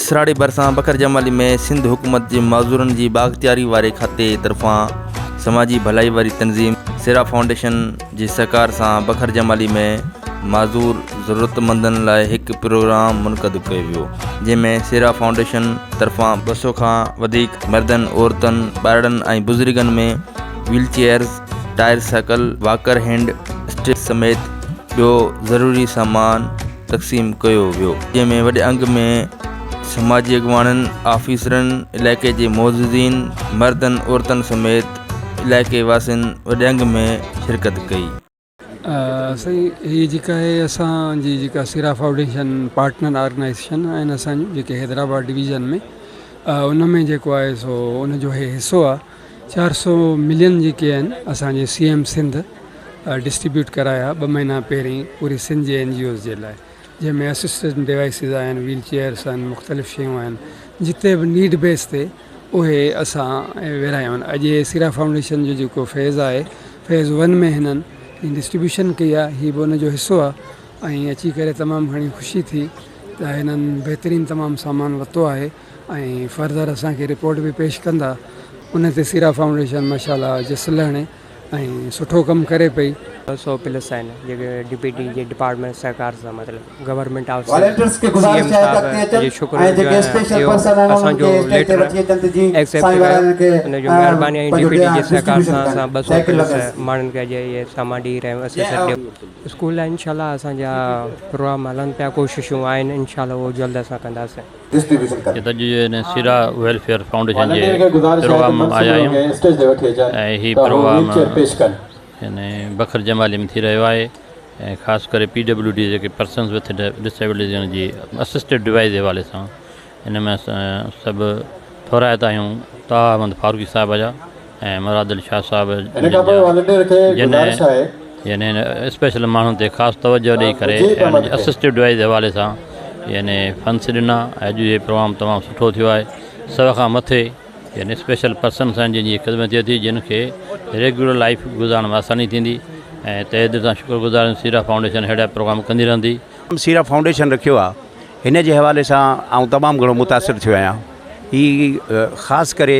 سراڙي ڀرسان بکر جمالي ۾ سنڌ حڪومت جي معذورن جي بااختياري واري کاتي طرفان سماجي ڀلائي واري تنظيم سيرا فائونڊيشن جي سهڪار سان بکر جمالي ۾ معذور ضرورتمندن لاء هڪ پروگرام منقد ڪيو ويو جنهن ۾ سيرا فائونڊيشن طرفان ٻه سو کان وڌيڪ مردن عورتن ٻارڙن ۽ بزرگن ۾ wheel chairs tricycle walker hand stick سميت ٻيو ضروري سامان تقسيم ڪيو ويو جنهن ۾ وڏي انگ ۾ سماجي اڳواڻن آفيسرن علائقي جي معززين مردن عورتن سميت علائقي واسين وڏي انگ ۾ شرڪت ڪئي. سائين هي جيڪا آهي اسان جي جيڪا سيرا فائوڊيشن پارٽنر آرگنائيزيشن آهن اسان جون جيڪي حيدرآباد ڊويزن ۾ ان ۾ جيڪو آهي سو ان جو هي حصو آهي چار سؤ ملين جيڪي آهن اسان جي سي ايم سنڌ ڊسٽريبيوٽ ڪرايا ٻه مهينا پهرين پوري سنڌ جي اين جي اوز جي لاء جنهن ۾ اسسٽنٽ ڊوائسز آهن ويل چيئرس آهن مختلف شيون آهن جتي به نيڊ بيس تي اهي اسان ورهايون آهن اڄ هي سيرا فائونڊيشن جو جيڪو فيز آهي فيز ون ۾ هنن ڊسٽريبيوشن ڪئي آهي هي به ان جو حصو آهي ۽ اچي ڪري تمام گهڻي خوشي ٿي ته هنن بهترين تمام سامان ورتو آهي ۽ فرضر اسان کي رپورٽ به پيش ڪندا ان تي سيرا فائونڊيشن ماشاءالله جس لهڻي ۽ سٺو ڪم ڪري پئي. سو پلس آهن جيڪي ڊي پي ٽي جي ڊپارٽمينٽ سهڪار سان مطلب government of Sindh C M صاحب جو شڪر گذار آهيان اهو اسان جو ليٽر ايڪسيپٽ ڪيو ان جو مهرباني ۽ ڊي پي ٽي جي سهڪار سان اسان ٻه سو پلس ماڻهن کي اڄ اهي سامان ڏيئي رهيا آهيون اسيسٽ ڏيئي اسڪول لاء انشاء الله اسان جا پروگرام هلن پيا ڪوششون آهن انشاء الله اهو جلد اسان ڪنداسين. جتان U N A Sehra welfare foundation جي پروگرام مان آيا آهيون ۽ هي پروگرام يعني بکر جمالي ۾ ٿي رهيو آهي ۽ خاص ڪري پي ڊبليو ڊي جيڪي پرسنز وٿ ڊسيبلٽيز جي اسسٽيڊ ڊوائيز جي حوالي سان ان ۾ اسان سڀ ٿورائتا آهيون طاها احمد فاروقي صاحب جا ۽ مرادل شاهه صاحب جن هن اسپيشل ماڻهن تي خاص توجه ڏئي ڪري ۽ ان جي اسسٽو ڊوائيز جي حوالي سان يعني فنس ڏنا ۽ اڄ جي پروگرام تمام سٺو ٿيو آهي سو کان مٿي يعني اسپيشل پرسنس آهن جن جي خدمت ٿئي ٿي جن کي ريگيولر لائيف گذارڻ ۾ آساني ٿيندي ۽ تهه دل سان شڪر گذار آهيون سيرا فائونڊيشن ههڙا پروگرام ڪندي رهندي. سيرا فائونڊيشن رکيو آهي هن جي حوالي سان آئون تمام گهڻو متاثر ٿيو آهيان هي خاص ڪري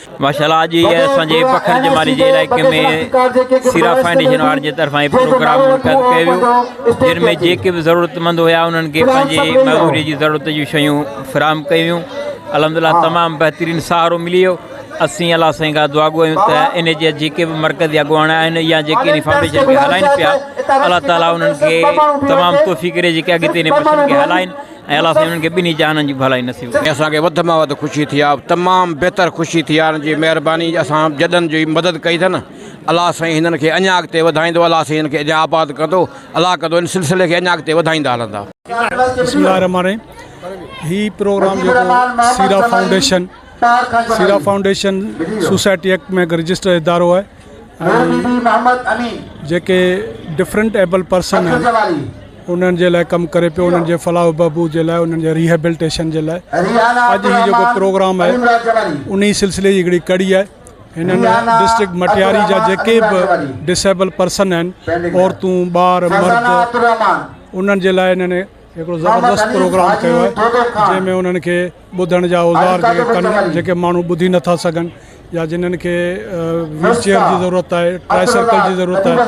ماشاء الله اڄ اسان جي پکر جمالي جي علائقي ۾ سيرا فائونڊيشن وارن جي طرفان هي پروگرام منعقد ڪيو ويو جن ۾ جيڪي به ضرورت مند هيا انهن کي پنهنجي معموري جي ضرورت جون شيون فراهم ڪيون ويون الحمد لله تمام بهترين سهارو ملي ويو اسين الله سائين کان دعا گو آهيون ته ان جي جيڪي به مرڪزي اڳواڻ آهن يا جيڪي ان فائونڊيشن کي هلائين پيا الله تعالي انهن کي تمام توفيق ڏي جيڪي اڳتي ان فائونڊيشن کي هلائين ۽ الله سائين انهن کي ٻنهي جهانن جي ڀلائي نصيب ڪري. اسان کي وڌ مان وڌ خوشي ٿي آ تمام بهتر خوشي ٿي آ جي مهرباني اسان جڏن جي مدد ڪئي اٿن الله سائين هنن کي اڃا اڳتي وڌائيندو الله سائين هنن کي اڃا آباد ڪندو الله ڪندو ان سلسلي کي اڃا اڳتي وڌائيندا هلندا. بسم الله الرحمن الرحيم هي پروگرام جيڪو Sehra foundation Sehra foundation society act ۾ هڪ رجسٽر ادارو آهي ڀيڻ بي بي محمد امين. جيڪي ڊفرنٽ ايبل پرسن آهن انهن جي لاء ڪم ڪري پيو انهن جي فلاح و بهبود جي لاء انهن جي ريهيبلٽيشن جي لاء اڄ هي جيڪو پروگرام آهي انهي سلسلي جي هڪڙي ڪڙي آهي هنن ڊسٽرڪٽ مٽياري جا جيڪي به ڊسيبل پرسن آهن عورتون ٻار مرد انهن جي لاء انهن هڪڙو زبردست پروگرام ڪيو آهي جنهن ۾ انهن کي ٻڌڻ جا اوزار جيڪي ڪن جيڪي ماڻهو ٻڌي نٿا سگهن يا جنهن کي ويل چيئر جي ضرورت آهي ٽرائي سائيڪل جي ضرورت آهي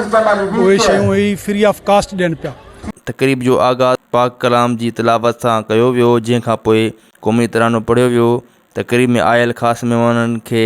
اهي شيون هي فري آف ڪاسٽ ڏين پيا. تقريب جو آغاز پاڪ ڪلام جي تلاوت سان ڪيو ويو جنهن کانپوء قومي ترانو پڙهيو ويو تقريب ۾ آيل خاص مهمانن کي